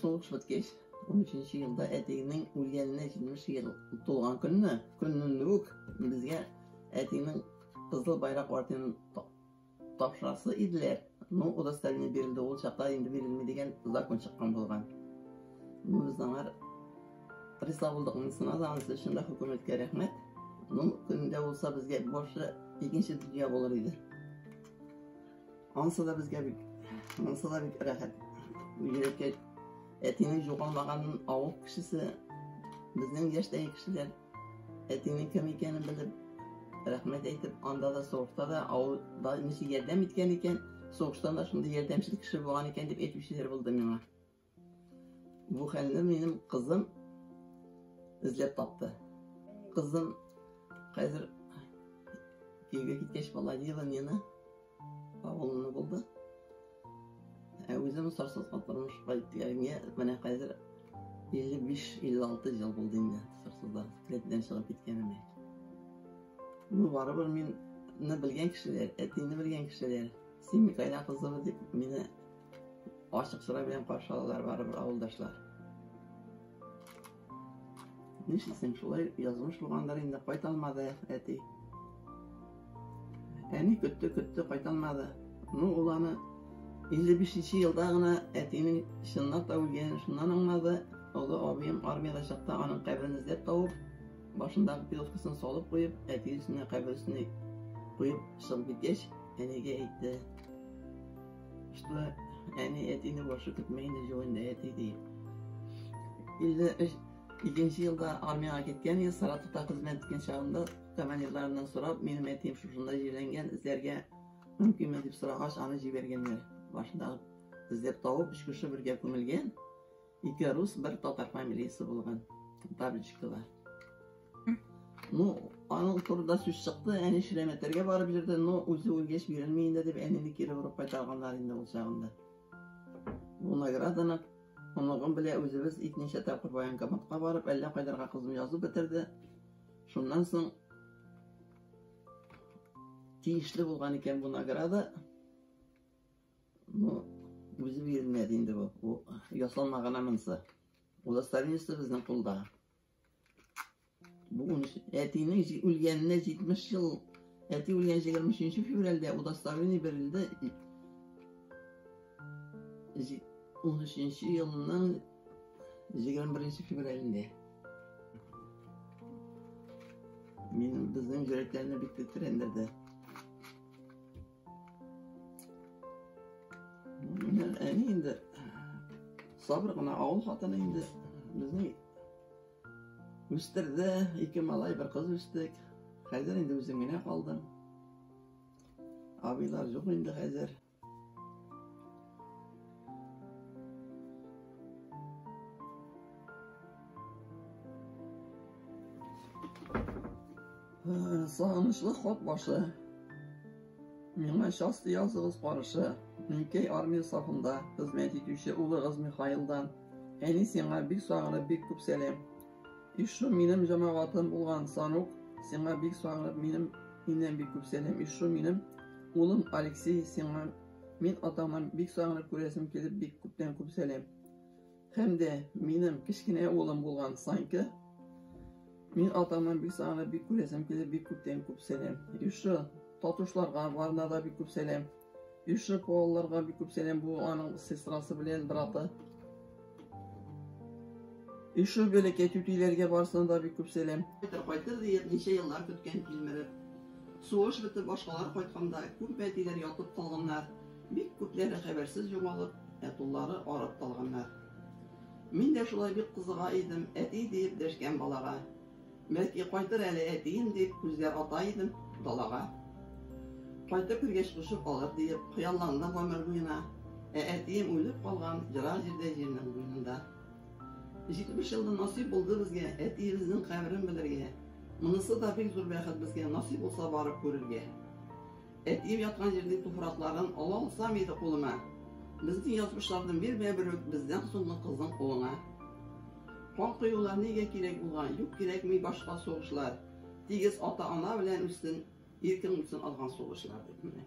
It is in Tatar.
Сугыш беткәч, 13 нче елда әтиеңнең үлгәненә 70 ел тулган көнне, көннән үк безгә әтиеңнең кызыл байрак орденын тапшырасы иделәр. Ну, удостоверение бирелде, ул чакта инде бирелми дигән закон чыккан булган. Ну, без аңар риза булдык, монысына да анысы өчен дә хөкүмәткә рәхмәт. Ну, көнендә булса безгә башы икенче дөнья булыр иде. Ансы да безгә бик, ансы да бик рәхәт. Үзенеке әтинең югалмаганын авыл кешесе, безнең яшьтәге кешеләр әтинең кем икәнен белеп, рәхмәт әйтеп, анда да сугышта да авылда ничек ярдәм иткән икән, сугыштан да шундый ярдәмчел кеше булган икән дип әйтүчеләр булды миңа. Бу хәлне минем кызым эзләп тапты. Кызым хәзер киевгә киткәч Володила Нина авылында булды. Ә үзем сарсызга тормыш кайткәнгә менә хәзер 55-56 ел булды инде сарсызда клетдән чыгып киткәнемә. Ну, барыбер мине белгән кешеләр, әтине белгән кешеләр, син Микаэла кызымы дип мине Ачык сыра белән каршы алалар барыбер авылдашлар. Нишлисең, шулай язмыш булгандыр инде, кайта алмады әти. Әни көтте, көтте, кайта алмады. Ну, ул аны 55-нче елда гына әтинең чынлап та үлгәнен шуннан аңлады. Олы абыем армияда чакта аның каберен эзләп табып, башындагы пилоткасын салып куеп, әти өстенә кабер өстенә куеп чыгып киткәч, әнигә әйтте. Башта әни әтине борчып бетми инде җүгендә әти ди. 53 Икенче елда армияга киткән ел Саратовта хезмәт иткән чагында командирларыннан сорап, минем әтием шушында җирләнгән, эзләргә мөмкинме дип сорагач, аны җибәргәннәр. Башында эзләп табып, өч кеше бергә күмелгән. Ике рус, бер татар фамилиясе булган. Бабочкова. Ну, аның турында сүз чыкты, әни Шиләмәтәргә барып йөрде, но үзе үлгәч бирелми инде дип әнине кире борып кайтарганнар инде ул чагында. Бу награданы оныгым белә үзебез икенче тапкыр военкоматка барып, әллә кайдарга кызым язып бетерде. Шуннан соң тиешле булган икән бу награда. Ну, үзе бирелмәде инде бу. Бу ясалма гына монысы. Удостоверениясе безнең кулда. Бүген әтинең үлгәненә 70 ел, әти үлгән 23 февральдә удостоверение бирелде. 13 елның 21 февральдә. Мин безнең йөрәкләрне бик тетрәндерде. Әни инде сабыр гына авыл хатыны инде безне үстерде, ике малай, бер кыз үстек. Хәзер инде үзем генә калдым. Абыйлар юк инде хәзер. Сагынычлы хат башы. Миңа части языгыз барышы. Минкәй армия сафында хезмәт итүче улыгыз Михаилдан. Әни сиңа бик сагынып бик күп сәлам. Ишу минем җамагатым булган Санук, сиңа бик сагынып минем миннән бик күп сәлам. Ишу минем улым Алексей сиңа Мин атамын бик сагынып күрәсем килеп бик күптән күп сәлем. Һәм дә минем кечкенә улым булган Санька Мин атамнан бик сагынып бик күрәсем килеп бик күптән күп сәлам. Юшы татушларга барына да бик күп сәлам. Юшы балаларга бик күп сәлам. Бу аның сестрасы белән браты. И шул бәләкәй түтиләргә барсына да бик күп сәлам. Кайтыр кайтыр диеп ничә еллар көткән килмереп. Сугыш бетеп башкалар кайтканда күп бәтиләр ятып калганнар, бик күпләре хәбәрсез югалып, ә туллары арып калганнар. Мин дә шулай бик кызыга идем, әти диеп дәшкән балага. Бәлки, кайтыр әле әтием дип, күзгә ата идем далага. Кайтып кергәч, кушып алыр диеп, хыялландым гомер буена. Ә әтием үлеп калган ерак җирдә, җирнең буенында. Җитмеш елда насыйп булды безгә әтиебезнең каберен белергә. Монысы да бик зур бәхет безгә, насыйп булса барып күрергә. Әтием яткан җирнең туфракларын ала алсам иде кулыма. Безнең язмышларны бирмә бер үк бездән соңгы кызның улыңа. Кан коюлар нигә кирәк булган, юк кирәкми башка сугышлар, тигез ата ана белән үстен, иркең үтсен алган сугышлар дип менә.